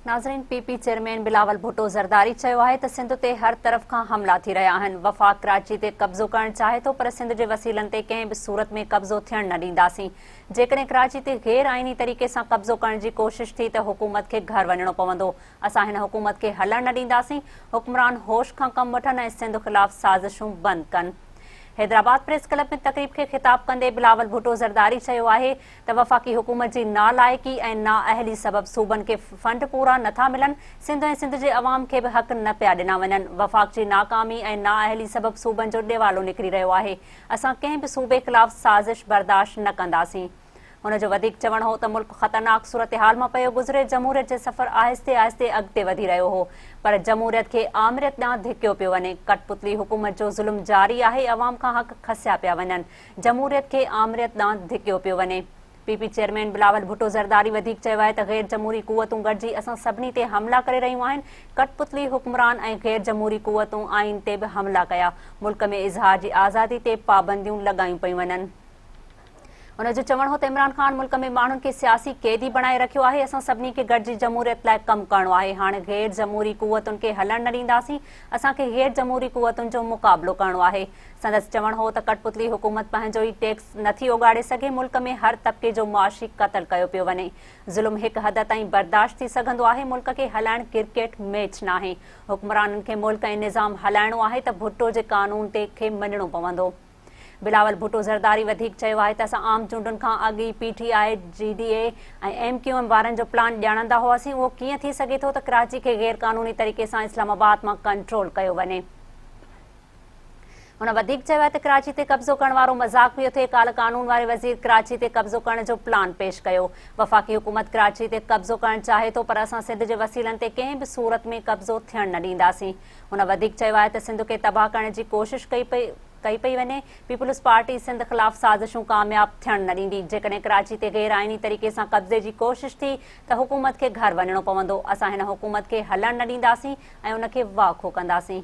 ناظرين P P chairman Bilawal Bhutto Zardari چيو آهي ته سنڌ تي هر طرف کان حملا ٿي رهيا آهن وفاق ڪراچي تي قبضو ڪرڻ چاهي ٿو پر سنڌ جي وسيلن تي ڪنهن به صورت ۾ قبضو ٿيڻ نه ڏينداسين جيڪڏهن ڪراچي تي غير آئيني طريقي سان قبضو ڪرڻ جي ڪوشش ٿي ته حڪومت کي گهر وڃڻو پوندو اسان هن حڪومت کي هلڻ نه ڏينداسين حڪمران هوش کان ڪم وٺن ۽ سنڌ خلاف سازشون بند ڪن حيدرآباد پريس ڪلب ۾ تقريب کي خطاب ڪندي بلاول ڀٽو زرداري چيو آهي ته وفاقي حڪومت جي نالائقي ۽ نااهلي سبب صوبن کي فنڊ پورا نه ٿا ملن، سنڌ ۽ سنڌ جي عوام کي به حق نه پيا ڏنا وڃن، وفاق جي ناڪامي ۽ نااهلي سبب صوبن جو ڏيوالو نڪري رهيو آهي، اسان ڪنهن به صوبي خلاف سازش برداشت نه ڪنداسين. هن جو وڌيڪ چوڻ هو ته ملڪ خطرناڪ صورتحال مان پيو گذري، جمهوريت جي سفر آهستي آهستي اڳتي وڌي رهيو هو پر جمهوريت کي آمريت ڏانهن ڌڪيو پيو وڃي، ڪٺپتلي حڪومت جو ظلم جاري آهي، عوام کان حق کسيا پيا وڃن، جمهوريت کي آمريت ڏانهن ڌڪيو پيو وڃي. P P chairman Bilawal Bhutto Zardari وڌيڪ چيو آهي ته غير جمهوري قوتون گڏجي اسان سڀني تي حملا ڪري رهيون آهن، ڪٽ پتلي حڪمران ۽ غير جمهوري قوتون آئين تي به حملا ڪيا، ملڪ ۾ اظهار جي آزادي تي پابنديون لڳايون پيون وڃن. ان جو چوڻ هو ته عمران خان ملڪ ۾ ماڻهن کي سياسي قيدي بڻائي رکيو آهي، اسان سڀني کي گڏجي جمهوريت لاء ڪم ڪرڻو آهي، هاڻ غير جمهوري قوتن کي هلڻ نه ڏينداسين، اسان کي غير جمهوري قوتن جو مقابلو ڪرڻو آهي. سندس چوڻ هو ته ڪٺپتلي حڪومت پنهنجو ئي ٽيڪس نه ٿي اوڳاڙي سگهي، ملڪ ۾ هر طبقي جو معاشي قتل ڪيو پيو وڃي، ظلم هڪ حد تائين برداشت ٿي سگهندو آهي، ملڪ کي هلائڻ ڪرڪيٽ ميچ ناهي، حڪمرانن کي ملڪ ۽ نظام هلائڻو آهي ته ڀٽو جي قانون تي کي مڃڻو پوندو. بلاول ڀٽو زرداري وڌيڪ چيو آهي ته اسان عام چونڊن کان اڳ ئي P T I, G D A ۽ M Q M وارن جو پلان ڄاڻندا هئاسين، اهو ڪيئن ٿي سگهي ٿو ته ڪراچي کي غيرقانوني طريقي سان اسلام آباد مان ڪنٽرول ڪيو وڃي. هن وڌيڪ چيو آهي ته ڪراچي تي قبضو ڪرڻ وارو مذاق پيو ٿئي، ڪالهه قانون واري وزير ڪراچي تي قبضو ڪرڻ جو پلان پيش ڪيو، وفاقي حڪومت ڪراچي تي قبضو ڪرڻ چاهي ٿو پر اسان سنڌ جي وسيلن تي ڪنهن به صورت ۾ قبضو ٿيڻ نه ڏينداسين، هن وڌيڪ چيو آهي ته سنڌ کي تباهه ڪرڻ جي ڪوشش ڪئي پئي ڪئي پئي وڃي، پيپلز پارٽي سنڌ خلاف سازشون ڪامياب ٿيڻ نه ڏيندي، جيڪڏهن ڪراچي تي غير آئيني طريقي سان قبضي جي ڪوشش ٿي ته حڪومت کي گهر وڃڻو پوندو، اسان هن حڪومت کي هلڻ نه ڏينداسين، ۽ ان کي واکو ڪنداسين.